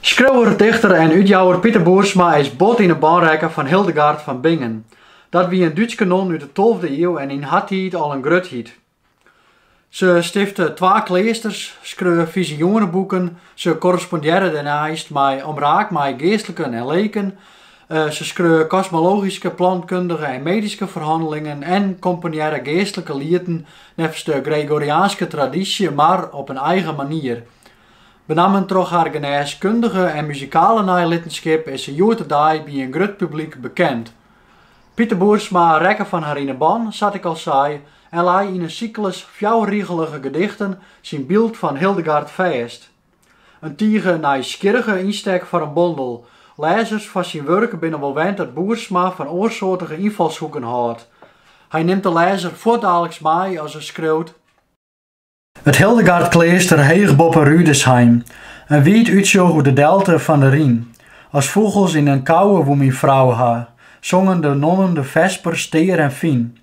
Skriuwer, dichter en útjouwer Piter Boersma is bot yn 'e bânrekke fan Hildegard fan Bingen. Dat wie in Dútske non út 'e tolfde iuw en yn har tiid al in grutheid. Se stifte twa kleasters, skreau fizioeneboeken, se korrespondearre dêrneist mei omraak mei geastliken en leken, Se skreau kosmologyske, plantkundige en medyske ferhannelingen en komponearre geastlike lieten neffens de Gregoriaanske tradysje, mar op in eigen manier. Benammen troch har genêskundige en muzikale neilittenskip is se hjoed-de-dei by in grut publyk bekend. Piter Boersma rekke fan har yn 'e ban, sa't ik al sei, en lei yn in syklus fjouwerrigelige gedichten syn byld fan Hildegard fêst. In tige nijsgjirrige ynstek foar in bondel. Lêzers fan syn wurk binne wol wend dat Boersma fan oarsoartige ynfalshoeken hâldt. Hy nimt de lêzer fuortdaliks mei as er skriuwt: It Hildegardkleaster heech boppe Rüdesheim, in wiid útsjoch oer de delte fan de Ryn. As fûgels yn in kouwe woe myn frou ha, songen de nonnen de vesper stear en fyn.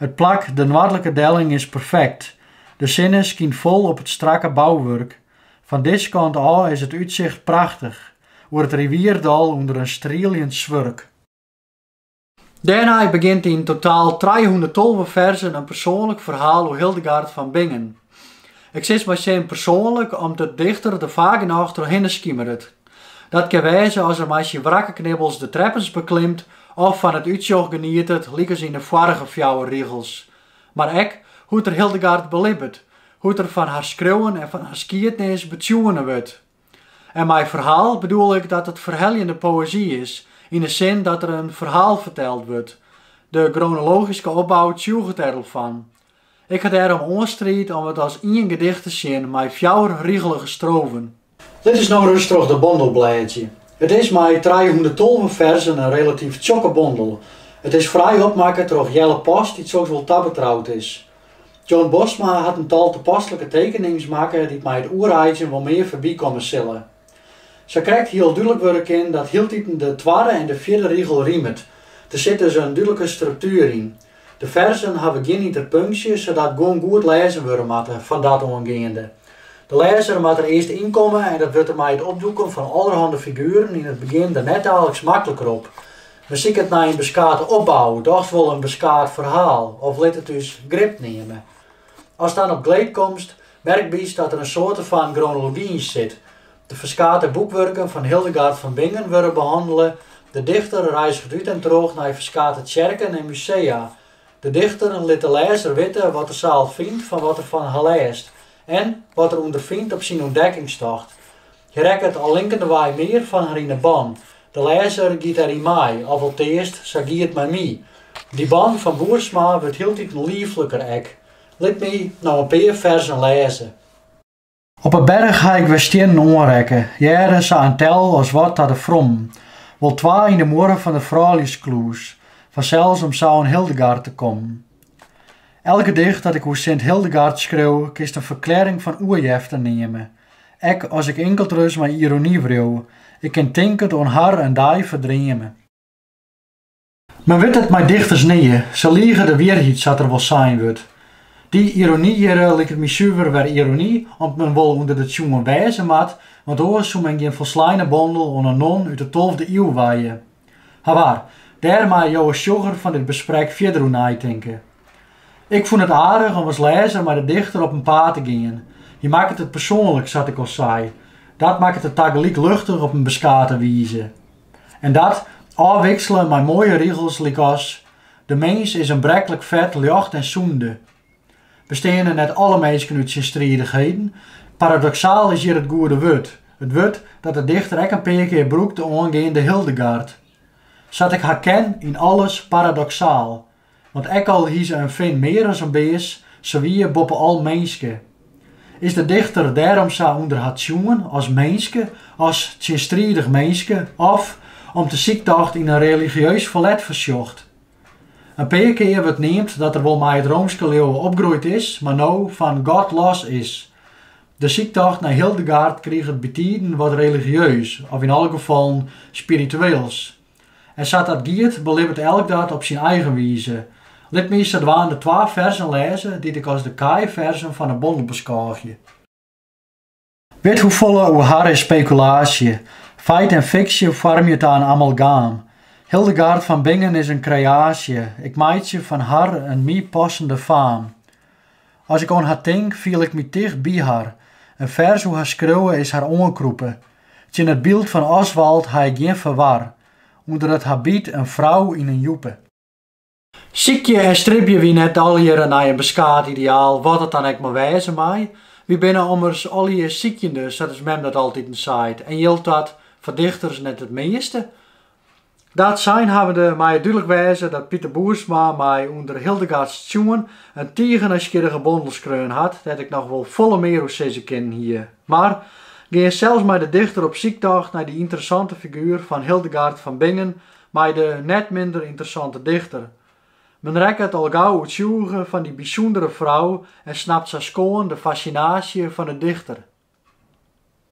It plak, de noardlike delling, is perfekt. De sinne skynt fol op it strakke bouwurk. Fan dizze kant ôf is it útsicht prachtich, oer it rivierdal ûnder in strieljend swurk. Dêrnei begjint yn totaal trijehûnderttolve ferzen in persoanlik ferhaal oer Hildegard fan Bingen. Ik sis mei sin persoanlik om't de dichter der faak genôch trochhinne skimeret. Dat kin wêze as er mei syn wrakke knibbels de treppens beklimt of fan it útsjoch genietet lykas yn de foarige fjouwer rigels. Mar ek hoe't er Hildegard belibbet, hoe't er fan har skriuwen en fan har skiednis betsjoene wurdt. En mei ferhaal bedoel ik dat it ferheljende poëzy is, yn 'e sin dat der in ferhaal ferteld wurdt. De gronologyske opbou tsjûget dêr al fan. Ik ha dêrom oanstriid om it as ien gedicht te sjen mei fjouwerrigelige strofen. Litte wy no ris troch de bondel blêdzje. It is mei trijehûnderttolve ferzen in relatyf tsjokke bondel. It is fraai opmakke troch Jelle Post dy't soks wol tabetroud is. John Bosma hat in tal tapaslike tekenings makke dy't mei it oereidzjen wol mear foarby komme sille. Sa krekt hiel dúdlik wurde kin dat hieltiten de twadde en de fjirde rigel rimet. Der sit dus in dúdlike struktuer yn. De ferzen hawwe gjin ynterpunksje, sadat guon goed lêzen wurde moatte, fan dat oan geande. De lêzer moat der earst ynkomme en dat wurdt him mei it opdoeken fan allerhande figueren yn it begjin der net daliks makliker op. Men siket nei in beskate opbou, dochs wol in beskaat ferhaal, of lit it ús grip neame. Ast dan op gleed komst, merkbytst dat der in soarte fan gronology yn sit. De ferskate boekwurken fan Hildegard van Bingen wurde behannele, de dichter reizget út en troch nei ferskate tsjerken en musea, de dichter lit de lêzer witte wat er sa al fynt fan wat er fan har lêst en wat er ûnderfynt op syn ûntdekkingstocht. Hy rekket al linkendewei mear fan har yn 'e ban. De lêzer giet der yn mei, of alteast, sa gie it mei my. Dy ban fan Boersma wurdt hieltiten liefliker ek. Lit my no in pear ferzen lêze. Op 'e berch ha ik wer stiennen oanrekke, hearde sa in tel as wat ta de frommen, wol twa yn 'e muorre fan de frouljuskluis, fansels om sa oan Hildegard te kommen. Elk gedicht dat ik oer Sint Hildegard skriuw, kinst in ferklearring fan oerjefte neame. Ek as ik inkeldris mei irony wriuw, ik kin tinkend oan har in dei ferdreame. Men wit it mei dichters nea, se lige de wierheid sa't der wol sein wurdt. Dy irony hjirre liket my suver wer irony, om't men wol ûnder de tsjoen wêze moat, want oars soe men gjin folsleine bondel oan in non út de tolfde iuw wije. Hawaar, dêr meie jo as sjogger fan dit besprek fierder oer neitinke. Ik fûn it aardich om as lêzer mei de dichter op 'en paad te gean. Hy makket it persoanlik, sa't ik al sei. Dat makket it tagelyk luchtich op in beskate wize. En dat, ôfwiksele mei moaie rigels lykas, De mins is in breklik fet ljocht en sûnde. Besteane net alle minsken út tsjinstridichheden? Paradoksaal is hjir it goede wurd, it wurd dat de dichter ek in pear kear brûkte oangeande Hildegard. Sa't ik har ken, yn alles paradoksaal. Want ek al hie se in fin mear as in bears, se wie boppe al minske. Is de dichter dêrom sa ûnder har tsjoen as minske, as tsjinstridich minske, of, om't de syktocht yn in religieus ferlet foarsjocht? In pear kear wurdt neamd dat er wol mei it roomske leauwe opgroeid is, mar no fan God los is. De syktocht nei Hildegard kriget bytiden wat religieus, of yn alle gefallen spiritueels. En sa't dat giet, belibbet elk dat op syn eigen wize. Lit my sadwaande twa ferzen lêze dy't ik as de kaaiferzen fan 'e bondel beskôgje. Withoefolle oer har is spekulaasje. Feit en fiksje foarmje ta in amalgaam. Hildegard van Bingen is in kreaasje, ik meitsje fan har in my passende faam. As ik oan har tink, fiel ik my ticht by har. In fers oer har skriuwe is har oankrûpe. Tsjin it byld fan Oswald ha ik gjin ferwar, ûnder it habyt in frou yn in jûpe. Sykje en stribje wy net allegearre nei in beskaat ideaal, wat it dan ek mar wêze mei. Wy binne ommers allegear sykjende, sa't ús mem dat altiten seit, en jildt dat foar dichters net it measte. Dat sein habbende mei it dúdlik wêze dat Piter Boersma mei Under Hildegards tsjoen in tige nijsgjirrige bondel skreaun hat, dêr't ik noch wol folle mear oer sizze kinnen hie. Mar gean sels mei de dichter op syktocht nei dy ynteressante figuer fan Hildegard fan Bingen, mei de net minder ynteressante dichter. Men rekket al gau oertsjûge fan dy bysûndere frou en snapt sa skoan de fassinaasje fan 'e dichter.